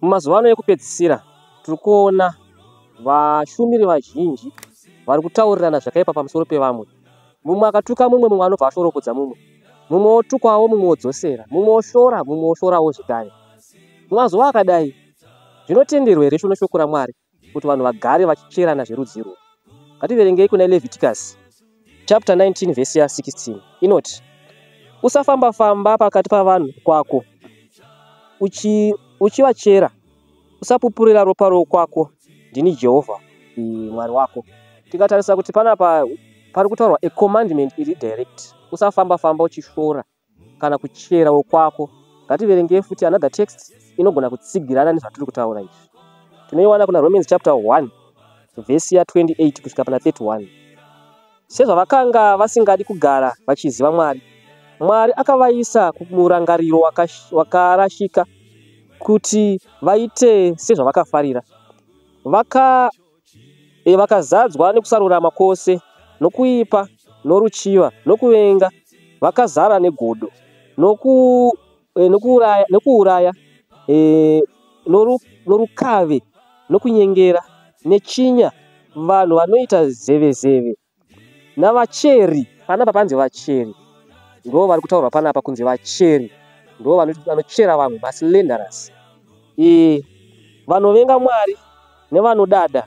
Mumazuva ano ekupedzisira tiri kuona vashumiri vazhinji vari kutaurirana zvakaipa pamusoro pevamwe. Mumwe akatuka mumwe, mumwe anobva ashoropodza mumwe, mumwe otukwawo, mumwe odzosera, mumwe oshora, mumwe oshorawo zvekare. Mumazuva akadai, zvinotenderwa here shoko raMwari? kuti vanhu vagare vachicherana zverudzi irwo ngativerengei kuna leviticus chapter 19 vhesi ya 16 inoti usafamba famba pakati pavanhu kwako uchi uchivachera usapupurira ropa rokwako ndini jehovha mwari wako tikatarisa kuti panapa pari kutaurwa a commandment iri direct usafamba famba uchishora kana kuchera wokwako ngativerengei futi another text inogona kutsigirana nezvatiri kutaura izvi tinoiwana kuna romans chapter 1 vhesi ya 28 kusvika pana 31 sezvavakanga vasingadi kugara vachiziva mwari mwari akavaisa kumurangariro wakarashika waka kuti vaite sezvavakafarira vaka e, vakazadzwa nekusarurama kwose nokuipa noruchiva nokuvenga vakazara negodo noku, e, nokuuraya, nokuuraya e, noru, norukave nokunyengera nechinya vanhu vanoita zevezeve navacheri panapa panzi vacheri ndo vari kutaurwa panapa kunzi vacheri ndo vanochera vamwe maslenderous e, vanovenga mwari nevanodada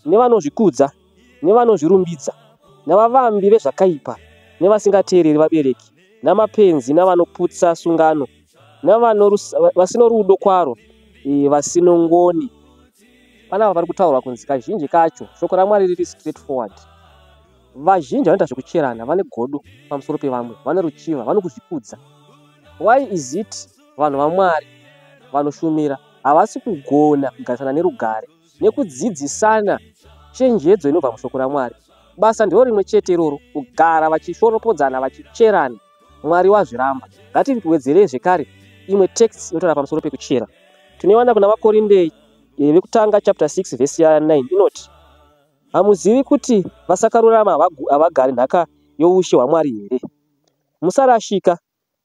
nevanozvikudza nevanozvirumbidza navavambi vezvakaipa nevasingateereri vabereki namapenzi navanoputsa sungano vasino rudo kwaro e, vasino ngoni panapa pari kutaurwa kunzi kazhinji kacho shoko ramwari riri straight forward vazhinji vanoita zvekucherana vane godo pamusoro pevamwe vane ruchiva vanokuzvikudza why is it vanhu vamwari vanoshumira havasi kugona kugarisana nerugare nekudzidzisana chenjedzo inobva mushoko ramwari basa ndiro rimwe chete iroro kugara vachishoropodzana vachicherana Mwari wazviramba. Ngatiwedzerei zvekare imwe text inotaura pamusoro pekuchera. Tinoiwana kuna Vakorinde eh, vekutanga chapter 6 verse 9 inoti hamuzivi kuti vasakarurama havagari nhaka youshe hwaMwari here? Musarashika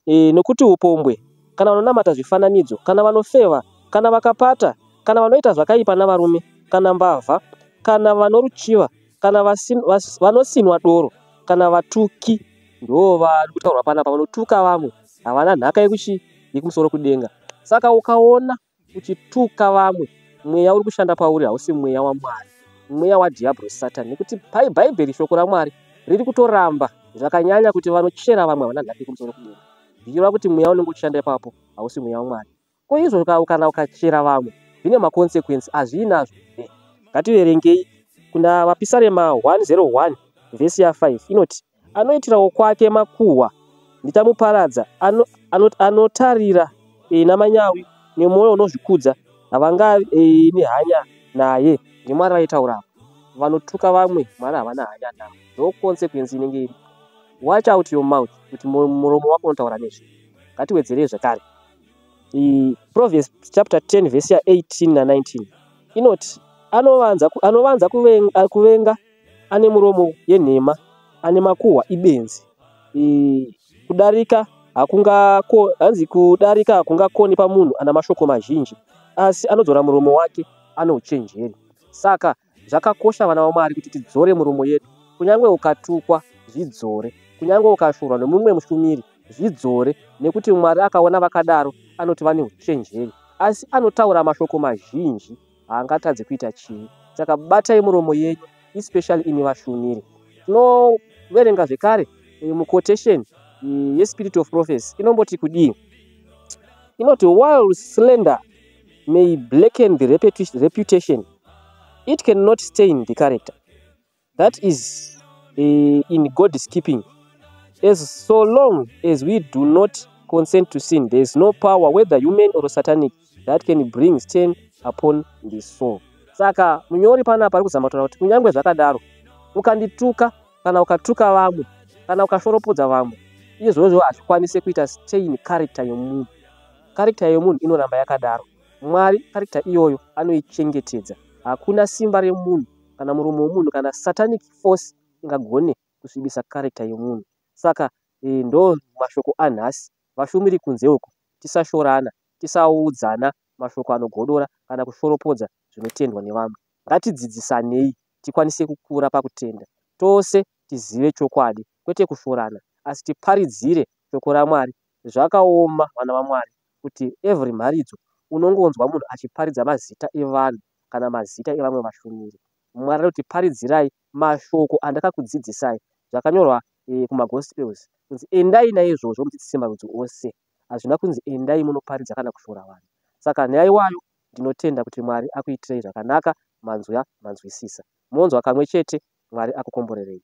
e, nokuti upombwe, kana vanonamata zvifananidzo, kana vanofeva, kana vakapata, kana vanoita zvakaipa navarume, kana mbavha, kana vanoruchiva, Kana vasin, vas, vanosinwa doro kana vatuki ndoo vari kutaurwa panapa vanotuka vamwe havana nhaka yekuchi yekumusoro kudenga saka ukaona uchituka vamwe mweya uri kushanda pauri hausi mweya wamwari mweya wadhiabro satan nekuti pai bhaibheri shoko ramwari riri kutoramba zvakanyanya kuti vanochera vamwe havana nhaka yekumusoro kudenga zvichireva kuti mweya unenge uchishanda ipapo hausi mweya wamwari Ko izvo ka- kana ukachera vamwe zvine maconsequence hazviinazvo here? Ngativerengei kuna Vapisarema 101 vhesi ya 5 inoti anoitirawo kwake makuhwa ndichamuparadza ano, ano, anotarira e, namanyawi nemwoyo unozvikudza havangavi e, nehanya naye ndimwari vaitaura apa vanotuka vamwe mwari havana hanya navo ndo consequence inenge iri watch out your mouth kuti mu- muromo wako unotaura nezve ngatiwedzerei zvekare mm, proverbs chapter 10 verse ya 18 na 19 inoti anovanza ku- anovanza kuven- a- kuvenga ane muromo yenhema ane makuhwa ibenzi Eh, kudarika hakungako hanzi kudarika hakungakoni pamunhu ana mashoko mazhinji asi anodzora muromo wake ano uchenjeri saka Zvakakosha vana vaMwari kuti tidzore muromo yedu. Kunyange ukatukwa, zvidzore. Kunyange ukashorwa nomumwe mushumiri, zvidzore, nekuti Mwari akaona vakadaro anoti vane uchenjeri. Asi anotaura mashoko mazhinji, haangatadzi kuita chivi. Saka batai muromo yenyu, especially imi vashumiri. Tinoverenga zvekare eh, muquotation eh, yeSpirit of Prophecy inomboti kudii? Inoti while slender may blacken the reputation it cannot stain the character that is uh, in god's keeping as so long as we do not consent to sin there is no power whether human or satanic that can bring stain upon the soul saka munyori panapa ari kuzama kutaura kuti kunyange zvakadaro ukandituka kana ukatuka vamwe kana ukashoropodza vamwe izvozvo hazvikwanise kuita stain character yomunhu character yomunhu inoramba yakadaro mwari character iyoyo anoichengetedza hakuna simba remunhu kana murume wemunhu kana satanic force ingagone kusvibisa character yomunhu saka e, ndo mashoko anhasi vashumiri kunze uku tisashorana tisaudzana mashoko anogodora kana kushoropodza zvinotendwa nevamwe ngatidzidzisanei tikwanise kukura pakutenda, tose tizive chokwadi, kwete kushorana, asi tiparidzire shoko raMwari. Zvakaoma vana vaMwari kuti every mharidzo unongonzwa munhu achiparidza mazita evanhu kana mazita evamwe vashumiri. Mwari anoti paridzirai mashoko andakakudzidzisai. Zvakanyorwa eh, kumagospels kunzi endai naizvozvo mudzidzise marudzi ose. hazvina kunzi endai munoparidza kana kushora vanhu saka nyaya iwayo ndinotenda kuti mwari akuitirei zvakanaka manzwa manzwisisa monzwa kamwe chete mwari akukomborerei